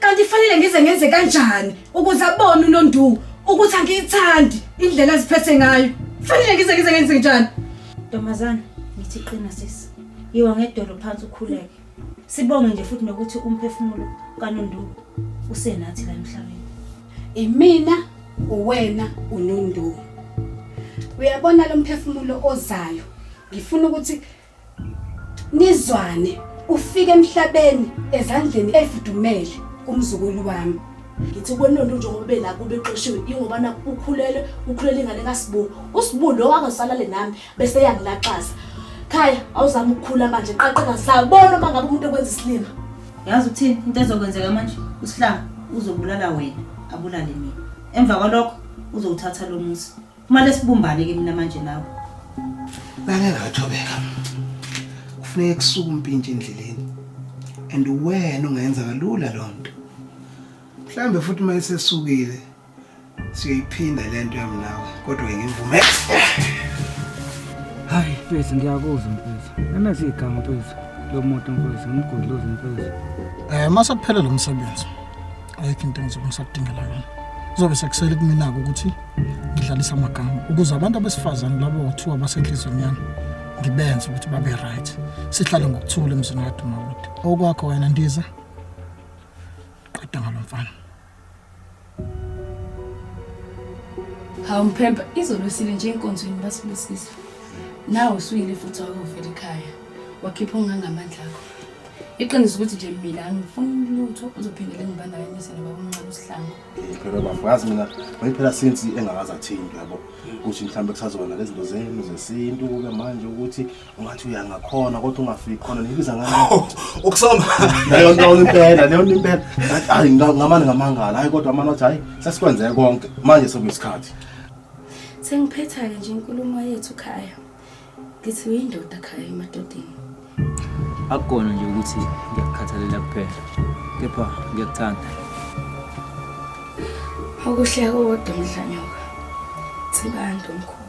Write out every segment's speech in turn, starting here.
Kanti fanele ngize ngenze kanjani ukuze abone uNonduku ukuthi angiyithandi indlela aziphethe ngayo. Fanele ngize ngize ngenze kanjani? Ntombazana, ngithi qina sisi. Yiwa ngedolo phansi ukhuleke. Sibonge nje futhi nokuthi umphefumulo kaNonduku usenathi la emhlabeni. Imina, uwena, uNonduku. Uyabona lo mphefumulo ozayo. Ngifuna ukuthi Nizwane ufike emhlabeni ezandleni efudumele kumzukulu wami. Ngithi kwenonto njengoba bela kube xoshiwe ingoba nakho ukhulele ukhulele ingane kaSibu. USibu lo akasalale nami bese yangilaxaza. Khaya awuzama ukukhula manje qaqeka sabona uma ngabe umuntu ekwenza isilima. Yazi uthini into ezokwenzeka manje usihlanga uzobulala wena abulale mina. Emva kwalokho uzowuthatha lo muzi Kumele sibumbane ke mina manje nawe. Ngake ngathobeka. Kufuneka kusuke umpintshe endleleni. And wena ungayenza kalula lo nto. Mhlambe futhi uma esesukile siyoyiphinda le nto yami nawe kodwa ngimvume. Hayi mfethu ngiyakuzwa mfethu. Emeza igama mfethu. Lo muntu mfethu ngimgudluza mfethu. Eh mase kuphele lo msebenzi. ayikho into engizobe ngisakudingela yona kuzobe sekusele kumina-ke ukuthi ngidlalise amagama ukuze abantu abesifazane labo kuthiwa basenhlizweni yami ngibenze ukuthi babe right sihlale ngokuthula emzini kadumawude okwakho wena ndiza qeda ngalo mfana hawu mphemba izolo sile nje enkonzweni basibusisa nawe usuyile futhi wakuvela ekhaya wakhipha ongangamandla akho iqiniso ukuthi nje mina angifuni lutho uzophindele ngibandakanyise nobaba omncane usihlango phela bafazi mina wayiphela since engakazi athini yabo ukuthi mhlawumbe kusazona lezi zinto zenu zesintu kube manje ukuthi ungathi uyangakhona kodwa ungafiki khona nibiza ngani ukusoma leyo nto impela leyo nto impela hayi ngamane ngamangala hayi kodwa amana wathi hayi sesikwenzeke konke manje sokuyisikhathi sengiphetha-ke nje inkulumo yethu khaya Ngithi uyindoda khaya emadodeni. Akukona nje ukuthi ngiyakukhathalela kuphela, kepha ngiyakuthanda. Okuhle kodwa mdlanyoka. Sibanda omkhulu.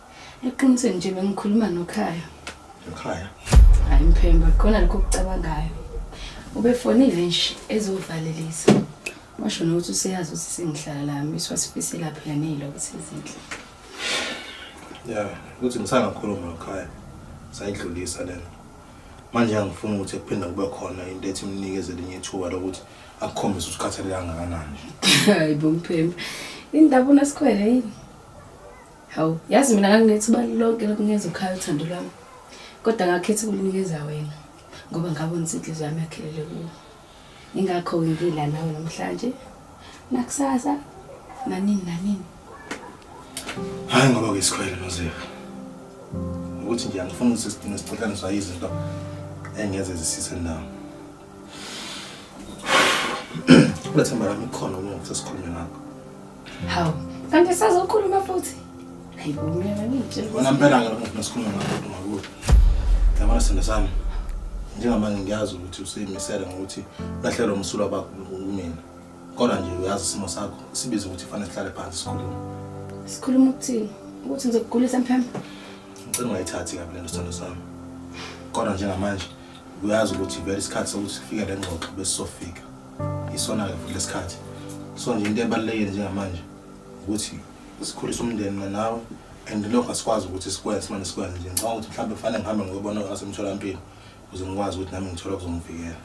Eqinisweni nje bengikhuluma nokhaya. Nokhaya? Hayi mphemba, khona lokho kucabangayo. Ubefonile nje ezovalelisa. Washo nokuthi useyazi ukuthi sengihlala lami, siwasifisela phela neziloko sezinhle. Ya, uthi ngisangakhuluma nokhaya. Sayidlulisa lena. Manje angifuni ukuthi kuphinde kube khona into ethi imnikeze linye ithuba lokuthi akukhombise ukuthi ukhathalele kangakanani. Hayi bo mphemba. Indaba unesikhwele yini? Hawu, yazi mina nganginethi ubali lonke lokunikeza ukhaya uthando lwami. Kodwa ngakhetha ukunikeza wena ngoba ngabona ukuthi inhliziyo yami yakhelele kuwe. Ingakho ngingila nawe namhlanje. Nakusasa nanini nanini. Hayi ngoba kuyisikhoyela noZefu. Ukuthi nje angifuni ukuthi sidinge siqhathaniswa izinto engeze zisise nawo. Kulethemba lami khona uma ngisesikhulume ngakho. Hawu, kanti sazokhuluma futhi. Hayibo mina ngitshela. Wena mpela ngalo muntu nesikhulume ngakho ngakuthi. Yabona sithando sami. Njengamanje ngiyazi ukuthi usimisele ngokuthi lahlelo umsulwa bakho kumina. Kodwa nje uyazi isimo sakho sibiza ukuthi fanele sihlale phansi sikhulume. Sikhuluma ukuthini? Ukuthi ngizokugulisa mphembe. Ngicela ungayithathi kabi lento sithando sami. Kodwa njengamanje uyazi ukuthi vele isikhathi sokuthi sifike le ngxoxo besizofika isona-ke futhi lesikhathi so nje into ebalulekile njengamanje ukuthi sikhulise umndeni mina nawe and lokho asikwazi ukuthi sikwenze simane sikwenze nje ngicabanga ukuthi mhlawumbe kufanele ngihambe ngiyobona asemtholampilo ukuze ngikwazi ukuthi nami ngithole okuzongivikela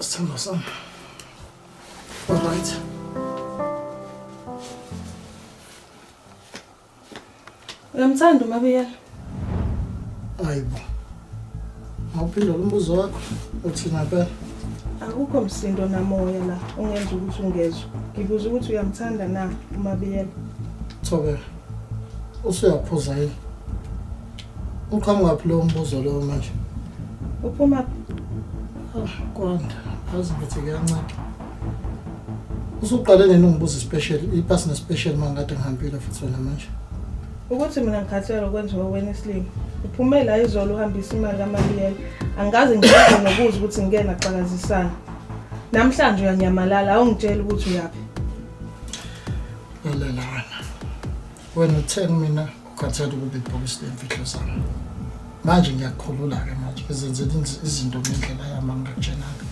Sithandwa sami. Alright. Uyamthanda uMabiyela? Hayibo. Mawuphinda umbuzo wakho uthi ngempela akukho msindo namoya la ongenza ukuthi ungezwe. Ngibuza ukuthi uyamthanda na uMabiyela? Thobela. Usuyaphuza yini? Uqhamuka phi lo mbuzo lowo manje? Uphuma phi? Ah, Kwanda, azi ngithi kuyanceda. Usuqale nini ungibuza i-special, ipasi ne-special uma ngikade ngihambile futhi wena manje? Ukuthi mina ngikhathele okwenziwa wena isilima. Uphume la izolo uhambisa imali kaMabiyela. Angikaze ngikwazi nokuza ukuthi ngike naxakazisana. Namhlanje uyanyamalala awungitsheli ukuthi uyaphi. Lalela wena. Wena uthe kumina Khathele ukuba ibhokisi lemfihlo zami. Manje ngiyakukhulula-ke manje ezenzela izinto ngendlela yami angikakutshena-ke.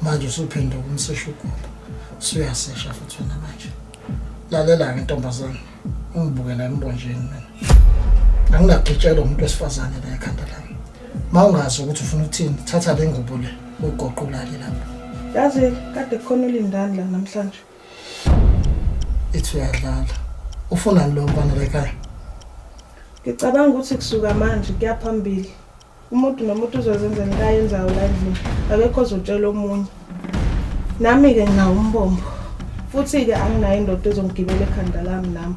Manje usuphinde ukumsesha ugobo. Usuyasesha futhi wena manje. Lalela-ke ntombazane, ungibukela embonjeni mina. Anginagitshelwa umuntu wesifazane la ekhanda lami. Uma ungazi ukuthi ufuna ukuthini, thatha le ngubo le uyigoqulale lapho. Yazi kade kukhona ulindani la namhlanje. ethi uyadlala ufunani lo mfana lekhaya ngicabanga ukuthi kusuka manje kuyaphambili umuntu nomuntu uzozenza into ayenzayo la endlini akekho ozotshela omunye nami-ke nginawo umbombo futhi-ke anginayo indoda ezongigibela ekhanda lami nami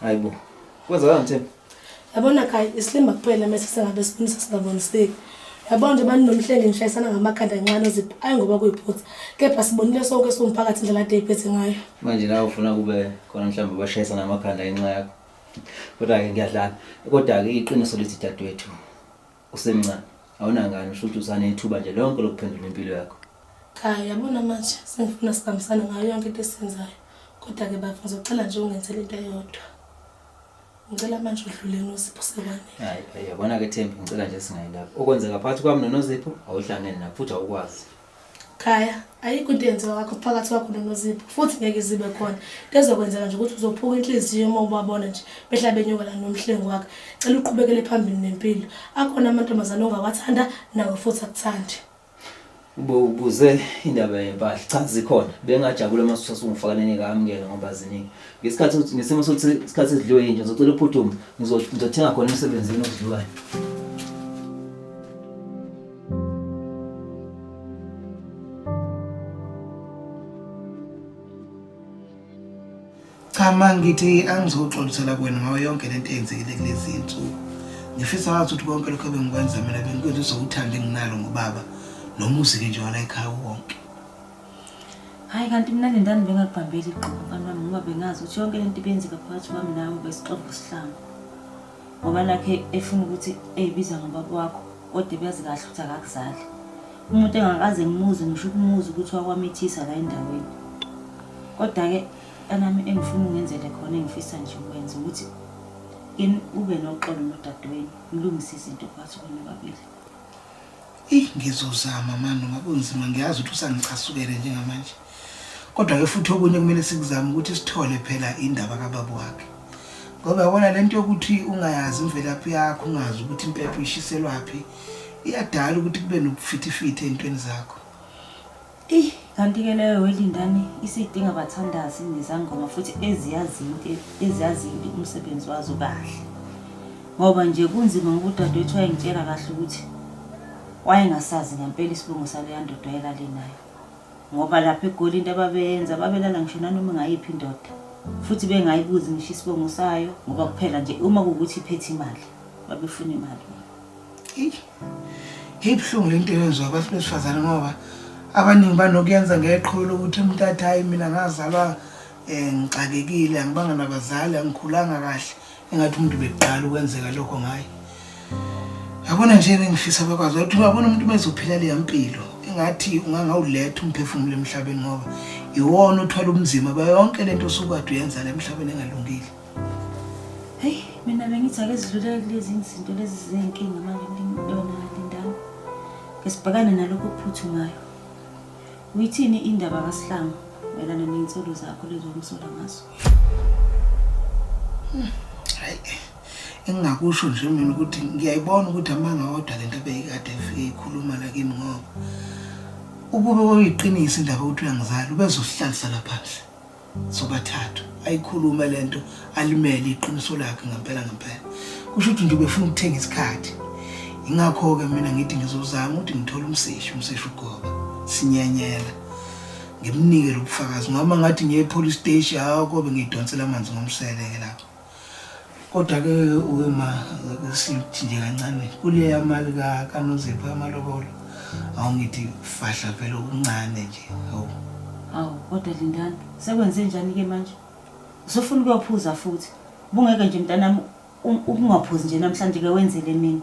Hayibo. Kwenzeka ngithini? Yabona kai isilima kuphela mase sengabe sibonisa singaboniseki. Yabona nje bani nomhlenge ngishayisana ngamakhanda kancane oziphi ayi ngoba kuyiphutha. Kepha sibonile sonke somphakathi indlela ade iphethe ngayo. Manje nawe ufuna kube khona mhlawumbe bashayisana amakhanda inxa yakho. Kodwa ke ngiyadlala. Kodwa ke iqiniso lithi dadwethu. Usemncane. Awunangane usho ukuthi usanethuba nje lonke lokuphendula impilo yakho. Cha, yabona manje sengifuna sibambisane ngayo yonke into esiyenzayo. Kodwa ke bafo ngizocela nje ungenzele into eyodwa. Ngicela manje udlule noSipho sekwane. Hayi, hayi, yabona ke Thembi, ngicela nje singayilapho. Okwenzeka phakathi kwami noNozipho awuhlangene nakho futhi awukwazi. Khaya, ayikho into eyenziwa kakho phakathi kwakho noNozipho futhi ngeke zibe khona. Into ezokwenzeka nje ukuthi uzophuka inhliziyo uma ubabona nje behla benyuka la nomhlengi wakhe. Cela uqhubekele phambili nempilo. Akhona amantombazane ongawathanda nawe futhi akuthande. Ubuze indaba yempahla cha zikhona bengajabula uma sasungifakanenika amukela ngoba ziningi ngesikhathi ngesimo sokuthi isikhathi sidliwe yinja ngizocela uphuthume ngizothenga khona emsebenzini okudliwayo Cha ma ngithi angizoxolisela kwena ngayo yonke lento eyenzekile kulezi insuku. Ngifisa wazi ukuthi konke lokho ebengikwenza mina bengikwenza uzokuthanda enginalo ngobaba nomuzi ke nje wala ekhaya wonke. Hayi kanti mina le ndani bengakubambeli igqomo mfana wami ngoba bengazi ukuthi yonke lento ibenzeka phakathi kwami nawe besixoxa isihlangu. ngoba nakhe efuna ukuthi eyibiza ngobaba wakho kodwa ebazi kahle ukuthi akakuzali umuntu engakaze ngimuze ngisho ukumuza ukuthi wakwamithisa la endaweni kodwa-ke anami engifuna ungenzele khona engifisa nje ukwenza ukuthi kini ube noxolo nodadewenu ngilungise izinto phakathi kwenu babili Eyi ngizozama mani noma kunzima ngiyazi ukuthi usangicasukele njengamanje. Kodwa-ke futhi okunye kumele sikuzame ukuthi sithole phela indaba kababa wakhe. Ngoba yabona le nto yokuthi ungayazi imvelaphi yakho ungazi ukuthi impepho ishiselwaphi iyadala ukuthi kube nobufithifithi ey'ntweni zakho. Ih, kanti-ke leyo welindani isidinga abathandazi nezangoma futhi eziyazi into eziyazi into umsebenzi wazo kahle. Ngoba nje kunzima ngoba udadewethu wayengitshela kahle ukuthi wayengasazi ngempela isibongo saleya ndoda ayelale nayo. Ngoba lapha eGoli into ababeyenza babelala ngisho nanoma ingayiphi indoda futhi bengayibuzi ngisho isibongo sayo ngoba kuphela nje uma kuwukuthi iphethe imali babefuna imali. Eish. Ibuhlungu le nto eyenziwa abantu besifazane ngoba abaningi banokuyenza ngeqholo lokuthi umuntu athi hhayi mina ngazalwa um ngixakekile angibanga nabazali angikhulanga kahle engathi umuntu bekuqala ukwenzeka lokho ngaye yabona nje bengifisa bakwazi ukuthi uyabona umuntu uma ezophila leya mpilo engathi ungangawuletha umphefumulo emhlabeni ngoba iwona uthwala ubunzima bayonke le nto usukade uyenza la emhlabeni engalungile Hey, mina bengithi ake zidlulele kulezi izinto lezi zinkinga manje ngiyona Lindani. Ngisibhekane nalokho kuphuthumayo. Uyithini indaba kaSihlangu mayelana nezinsolo zakho lezo omsola ngazo? Hmm, hayi. Engingakusho nje mina ukuthi ngiyayibona ukuthi amanga wodwa lento beyikade ifike ikhuluma la kimi ngoba ukube wayiqinisa indaba ukuthi uyangizala ubezohlalisa lapha nje. sobathathu ayikhulume lento alimele iqiniso lakhe ngempela ngempela kusho ukuthi nje ubefuna ukuthenga isikhathi ingakho-ke mina ngithi ngizozama ukuthi ngithole umseshi umseshi ugoba sinyenyela ngimnike lo bufakazi ngoba ngathi ngiye epolice station hawu kobe ngiyidonsela amanzi ngomsele-ke lapho Kodwa ke wema sithinde kancane kule yamali ka kanozipho amalobolo awungithi fahla phela okuncane nje hawu Awu kodwa Lindani sekwenze njani ke manje? Usufuna ukuyophuza futhi. Bungeke nje mntanami u- ukungaphuzi nje namhlanje ke wenzele mina.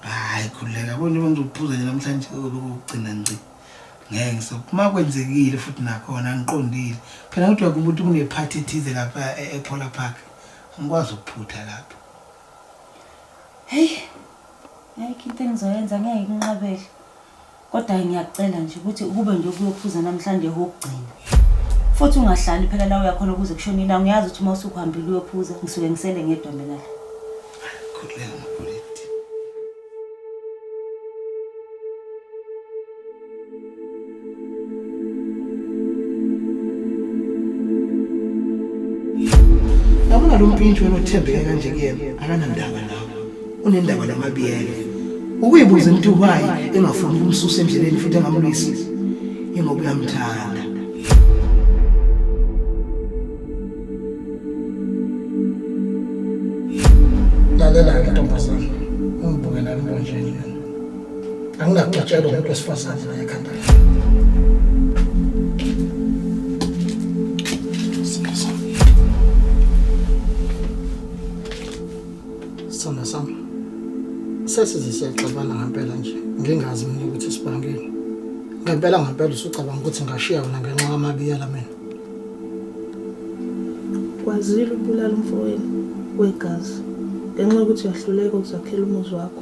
hayi khuleka konje uma ngizokuphuza nje namhlanje lokugcina ngci ngeke ngisoke uma kwenzekile futhi nakhona angiqondile phela kodwa kumuntu kunephathi ethize lapha e- ephola park angikwazi ukuphutha lapho heyi ayikho into engizoyenza ngeke nginqabele kodwa ngiyacela nje ukuthi ukube nje kuyokuphuza namhlanje kokugcina futhi ungahlali phela la uyakhona ukuze kushone ilanga uyazi ukuthi uma usukuhambile uyophuza ngisuke ngisele ngedwa mina la khululeka Yabona lo mpintshi wena othembeke kanje kuyena akanandaba nawe. Unendaba namabiyelo. Ukuyibuza into why engafuni ukumsusa endleleni futhi engamlwisi. Ingoba uyamthanda. lalela-ke ntombazana ungibukela imbonjeni yona anginakuxatshelwa umuntu wesifazane la ekhanda lakhe Siyeza. Sithanda sami sesize siyaxabana ngempela nje ngingazi mina ukuthi sibangeni ngempela ngempela usucabanga ukuthi ngashiya wena ngenxa kamabiyela mina Kwazile ukubulala umfowenu wegazi ngenxa yokuthi uyahluleka ukuzakhela umuzi wakho.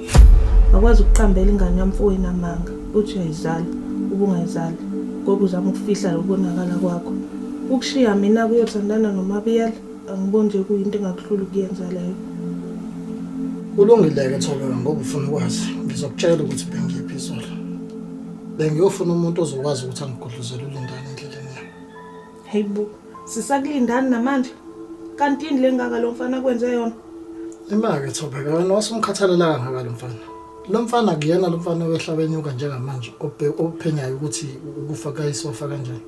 Wakwazi ukuqambela ingane yamfowenu amanga uthi uyayizala ubungayizali ngoba uzama ukufihla lokubonakala kwakho. Ukushiya mina kuyothandana nomabiyela angiboni nje kuyinto engakuhlula ukuyenza leyo. Kulungile-ke Thobeka ngoba ufuna ukwazi ngizokutshela ukuthi bengiyiphi izolo. Bengiyofuna umuntu ozokwazi ukuthi angigudluzele ulindane endleleni. Hey bo, sisakulindani namanje? Kanti yini lengaka lo mfana kwenze yona? Imake Thobeka wena wasumkhathalela kangaka lo mfana. Lo mfana kuyena lo mfana wehlabenyuka njengamanje obhe- ophenyayo ukuthi ukufa kayisofa kanjani.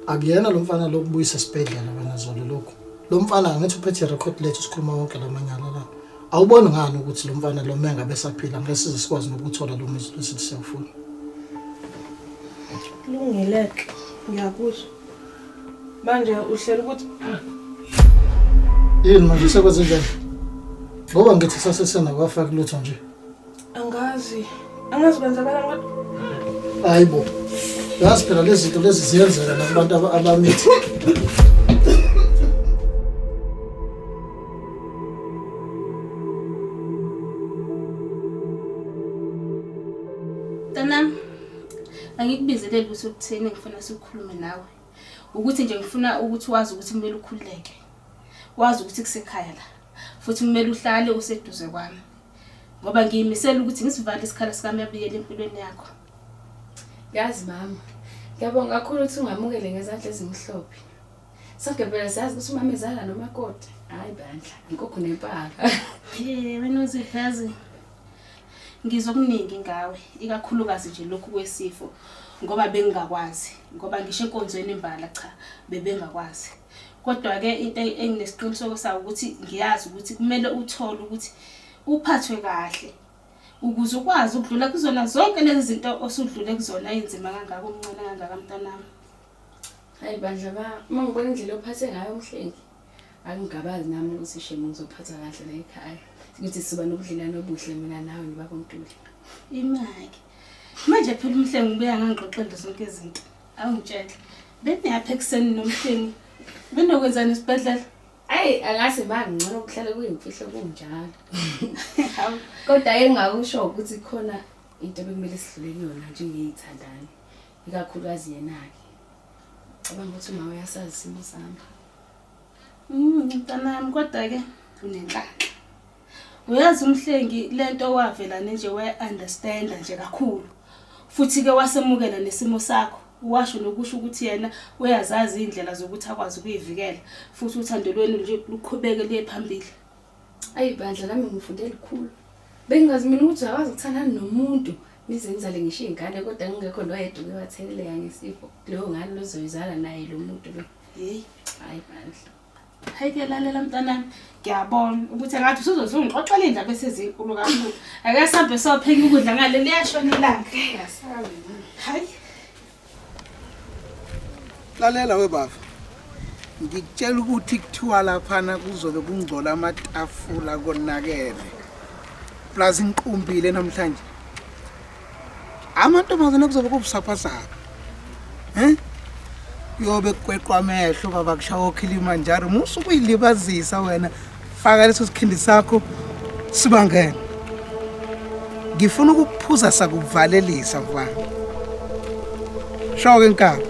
Akuyena lo mfana lokubuyisa esibhedlela wena zolo lokhu. Lo mfana angithi uphethe record lethu sikhuluma wonke lamanyala la. awuboni ngani ukuthi lo mfana lo menga besaphila ngeke size sikwazi nokuthola lo muzi lesithi siyawufuna kulungile-ke ngiyakuzwa manje uhlela ukuthi yini manje sekwenze njani ngoba ngithi sasesena kwafaki lutho nje Angazi. Angazi kwenzakala kodwa. Hayi bo. Yazi phela lezi zinto lezi ziyenzeka nakubantu aba- abamithi. Mntanami, angikubizele lutho okutheni ngifuna sikhulume nawe. Ukuthi nje ngifuna ukuthi wazi ukuthi kumele ukhululeke. Wazi ukuthi kusekhaya la. Futhi kumele uhlale useduze kwami. ngoba ngiyimisela ukuthi ngisivale isikhala sikami abuyele empilweni yakho yazi mama ngiyabonga kakhulu ukuthi ungamukele ngezandla ezimhlophe sonke phela siyazi ukuthi umama ezala nomakoti hhayi bandla inkukhu nempaka wena uzihazi ngizwa okuningi ngawe ikakhulukazi nje lokhu kwesifo ngoba bengingakwazi ngoba ngisho enkonzweni imbala cha bebengakwazi Kodwa-ke into enginesiqiniseko sayo ukuthi ngiyazi ukuthi kumele uthole ukuthi uphathwe kahle ukuze ukwazi ukudlula kuzona zonke lezi zinto osudlule kuzona ey'nzima kangaka umncane kangaka mntanami hayi bandla ba uma ngibona indlela ophathe ngayo umhleki angingabazi nami ukuthi shema ngizophatha kahle la ekhaya ukuthi siba nobudlelwane obuhle mina nawe nobaba untuli imake manje phela umhlengi ubuya ngangixoxele zonke izinto Awungitshela. Beniyaphi ekuseni nomhleni? Benokwenzani esibhedlela? Ayi angazi mangcono kuhlale kuyimfihlo kunjalo. Kodwa engakusho ukuthi khona into bekumele sidlule kuyona njengeyithandani. Ikakhulukazi yena-ke. Cabanga ukuthi uma uyasazi isimo sami. Mm, mntanami kodwa-ke unenhlanhla. Uyazi umhlengi lento wavela nje we understand nje kakhulu. Futhi ke wasemukela nesimo sakho. Washo nokusho ukuthi yena uyazazi indlela zokuthi akwazi ukuyivikela futhi uthando lwenu nje luqhubeke liye phambili. Ayi bandla nami ngifunde likhulu. Bengazi mina ukuthi uyakwazi ukuthandana nomuntu nize nizale ngisho izingane kodwa ngingekho noyedwa uke watheleleka ngesifo. Leyo ngane lozoyizala naye lo muntu lo. Hey, hayi bandla. Hayi ke lalela mntanami ngiyabona ukuthi engathi usuzothi ungixoxela iy'ndaba esezinkulu kakhulu ake sambe sopheka ukudla ngale liyashona ilanga hayi lalela webaba ngikutshela ukuthi kuthiwa laphana kuzobe kungcola amatafula konakele plus ngiqumbile namhlanje amantombazane kuzobe kubusaphasapha um kuyobe kukweqwa amehlo baba kushawa okhilima njalo musa ukuyilibazisa wena faka leso sikhindi sakho sibangene ngifuna ukukuphuza sakuvalelisa mfana shoke nkaba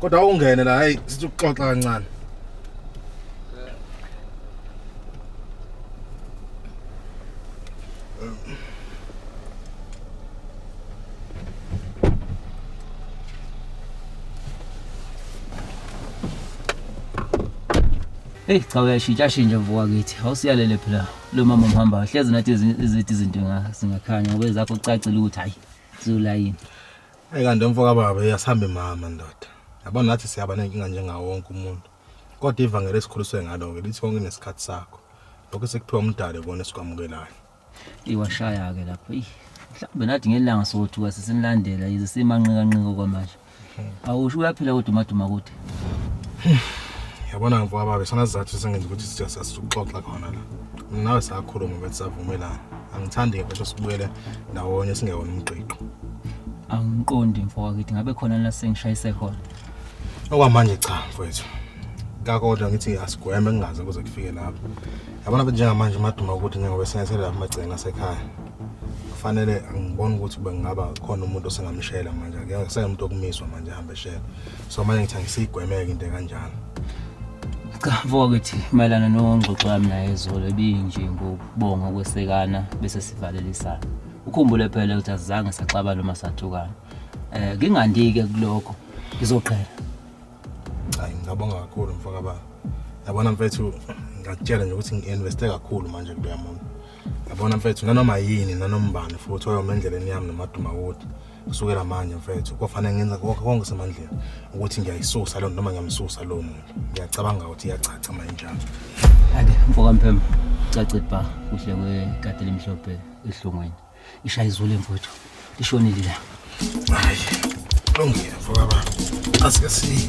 kodwa ungene la hayi sithi ukuxoxa kancane Hey cha uyashintsha shintsha mvuka kithi. Awusiyalele phela lo mama mhamba. Hlezi nathi izithi izinto singakhanya ngoba ezakho kucacile ukuthi hayi zulayini. Ayi kanti umfo kababa yasihamba imama ndoda. Yabo nathi siyaba nenkinga njengawo wonke umuntu. Kodwa ivangeli esikhuliswe ngalo-ke lithi konke kunesikhathi sakho. Lokho esikuphiwa umdali kona esikwamukelayo. Iwashaya-ke lapho. Eyi, mhlawumbe nathi ngelanga sothuka sesinilandela yize simanqikanqika okwamanje. Awusho uyaphila kodwa umaduma kude. yabona mfowababa isona sizathu esengenza ukuthi sija sasixoxa khona la mina nawe sakhuluma ukuthi savumelana angithandi-ke mfethu sibuyele ndawonye singewona umqiqo angiqondi mfowakithi ngabe khona la sengishayise khona okwamanje cha mfowethu kakodwa ngithi asigweme kungaze kuze kufike lapho yabona be njengamanje umaduma ukuthi njengoba senethele lapha amagcina asekhaya kufanele angiboni ukuthi bengingaba khona umuntu osengamshela manje ngeke seyomuntu okumiswa manje hambe shela so manje ngithi angisiyigwemeke into kanjalo cha mfokakithi mayelana nongxoxo yami naye izolo ebinje ngokubonga ukwesekana bese sivalelisana ukhumbule phela ukuthi asizange saxabana noma sathukana um ngingandike kulokho ngizoqhela hayi ngingabonga kakhulu mfoka baba yabona mfethu ngakutshela nje ukuthi ngi-investe kakhulu manje kuloya muntu yabona mfethu nanoma yini nanombani futhi oyoma endleleni yami nomaduma wodi kusukela manje mfethu kwafanele ngenza konke konke semandleni ukuthi ngiyayisusa lona noma ngiyamsusa lo muntu ngiyacabanga ukuthi iyacaca manje njalo ake mfoka mphemba cace bha kuhle kwekati elimhlophe ehlungwini ishaya izulu emfowethu lishonile la hayi lungile mfoka baba asike siye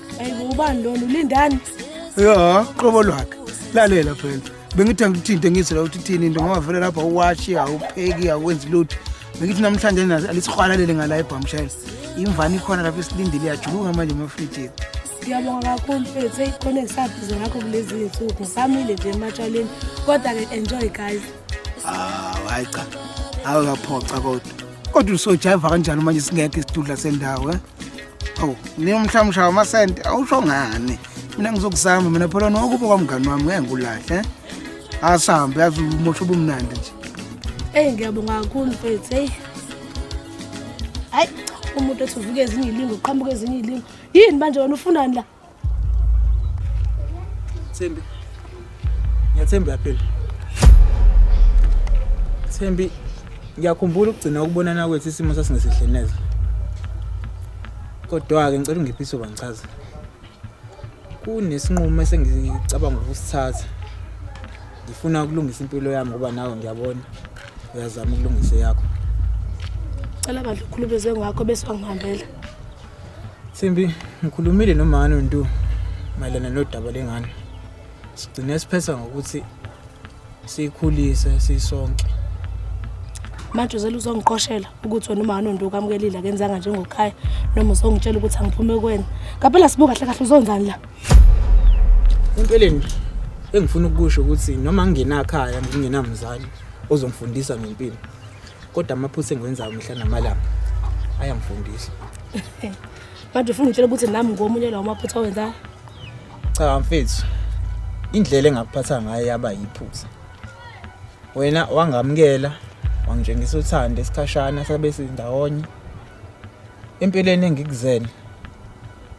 Ayibo ubani lona ulindani? Ya, qobo lwakhe. Lalela phela. Bengithi angikuthinte ngizwe la ukuthi thini into ngoba vele lapha uwashi awupheki awenzi lutho. Bengithi namhlanje nazi alisihwalalele ngala ebhamshela. Imvana ikhona lapha esilindile yajuluka manje emafrijini. Ngiyabonga kakhulu mfethu eyikhona engisabhize ngakho kulezi zinsuku. Samile nje ematshaleni. Kodwa ke enjoy guys. Ah, hayi cha. Awukaphoxa kodwa. Kodwa usojaiva kanjani manje singekho isidudla sendawo eh? awu ni umhlamshawa amasente awusho ngani mina ngizokuzama mina phela nokuba kwamngani wami ngeke ngikulahle eh? asambe yazi umosho ubumnandi nje eyi ngiyabonga kakhulu mfethu eyi hayi umuntu ethi uvuke ezinye ilingo uqhamuke ezinye ilingo yini manje wena ufunani la Thembi. Ngiyathemba uyaphila. Thembi ngiyakhumbula ukugcina ukubonana kwethu isimo sasingesihle neze. Kodwa-ke ngicela ungiphe isoba ngichaze. Kunesinqumo esengicabanga ukusithatha. Ngifuna ukulungisa impilo yami ngoba nawe ngiyabona uyazama ukulungisa eyakho. Cela bandla ukhulumezwe ngakho bese wangihambela. Thembi, ngikhulumile nomani uNtu mayelana nodaba lengane. Sigcine siphetha ngokuthi siyikhulise sisonke. Manje uzela uzongiqoshela ukuthi wena umani uNtu ukamukelile akenzanga njengokhaya noma uzongitshela ukuthi angiphume kuwena. Ngapela sibuka kahle kahle uzonzani la? Empeleni engifuna ukusho ukuthi noma ngingenakhaya ngingenamzali ozongifundisa ngempilo. kodwa amaphutha engiwenzayo mihla namalanga ayangifundisa manje ufuna ngitshela ukuthi nami ngomunye lawo maphutha awenzayo cha mfethu indlela engakuphatha ngayo yaba yiphutha wena wangamukela wangitshengisa uthando esikhashana sabe sindawonye empilweni engikuzele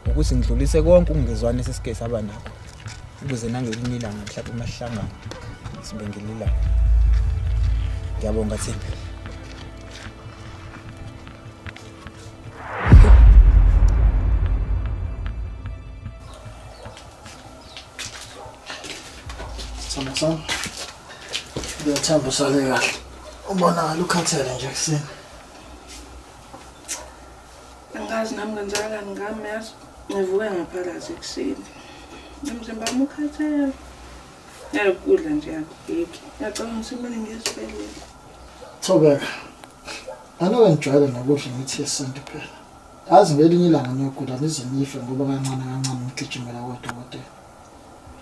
ukuthi ngidlulise konke ukungezwani esesike saba nakho ukuze nangelinye ilanga mhlawumbe uma sihlangana sibe ngililanga ngiyabonga thimba Sithombe sami ngiyathemba usale kahle ubonakala ukhathele nje ekuseni Angazi nami ngenzakalani ngami yazi ngivuke ngaphalaza ekuseni. Umzimba wami ukhathele. Yayi ukudla nje akubheki. Ngiyacabanga ukuthi kumele ngiye esibhedlela. Thobeka. Anoke ngijwayele nokudla imithi yesintu phela. Yazi ngelinye ilanga niyogula nize nife ngoba kancane kancane ngigijimela kodokotela.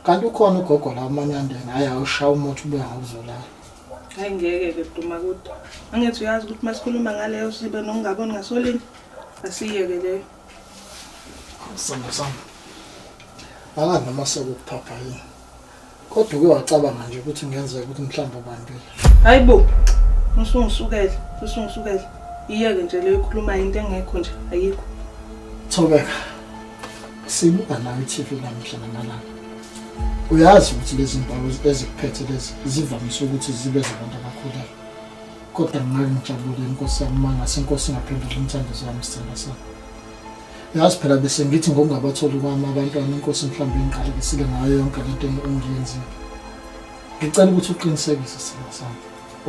Kanti ukhona ugogo la umanyandeni hayi awushaya umuthi ubuya ngokuzolala. Hayi ngeke ke duma kude. Angithi uyazi ukuthi masikhuluma ngaleyo sibe nokungaboni ngasolinye asiyeke leyo. Samba samba. Angazi noma sekukuphapha yini. Kodwa uke wacabanga nje ukuthi ngenzeka ukuthi mhlawumbe ubambile. Hayi bo. Usungisukele, usungisukele. Iyeke nje leyo ikhuluma into engekho nje ayikho. Thobeka. sibuka nawe i-tv lamuhla namalanga uyazi ukuthi lezi ndawo ezikuphethe lezi zivamise ukuthi zibe zabantu abakhulele kodwa ngake ngijabule inkosi yami uma ngase inkosi ingaphendula umthandazo wami sithanda sami yazi phela bese ngithi ngokungabatholi kwami abantwana inkosi mhlawumbe ingiqalekisile ngayo yonke le nto engiyenzile ngicela ukuthi uqinisekise sithanda sami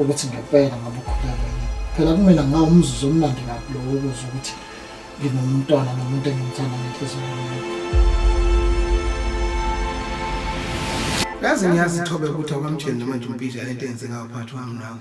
ukuthi ngempela ngabe ukhulelwe yini phela kumina ngawumzuzu omnandi kabi lowo ukuze ukuthi nginomntwana nomuntu engimthanda ngenhliziyo yami yazi ngiyazi thobe ukuthi awukamtsheli noma nje umpija lento enze ngayo phakathi wami nawe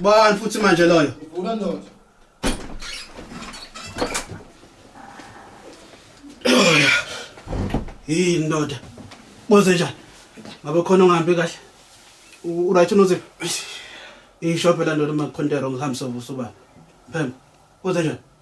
Bani futhi manje loyo? Uvula ndoda. Hey ndoda. Boze njani? Ngabe khona ongahambi kahle? U right unoze? Ishophe la ndoda makukhonte wrong hambisa ubusuba. Phem. Boze njani?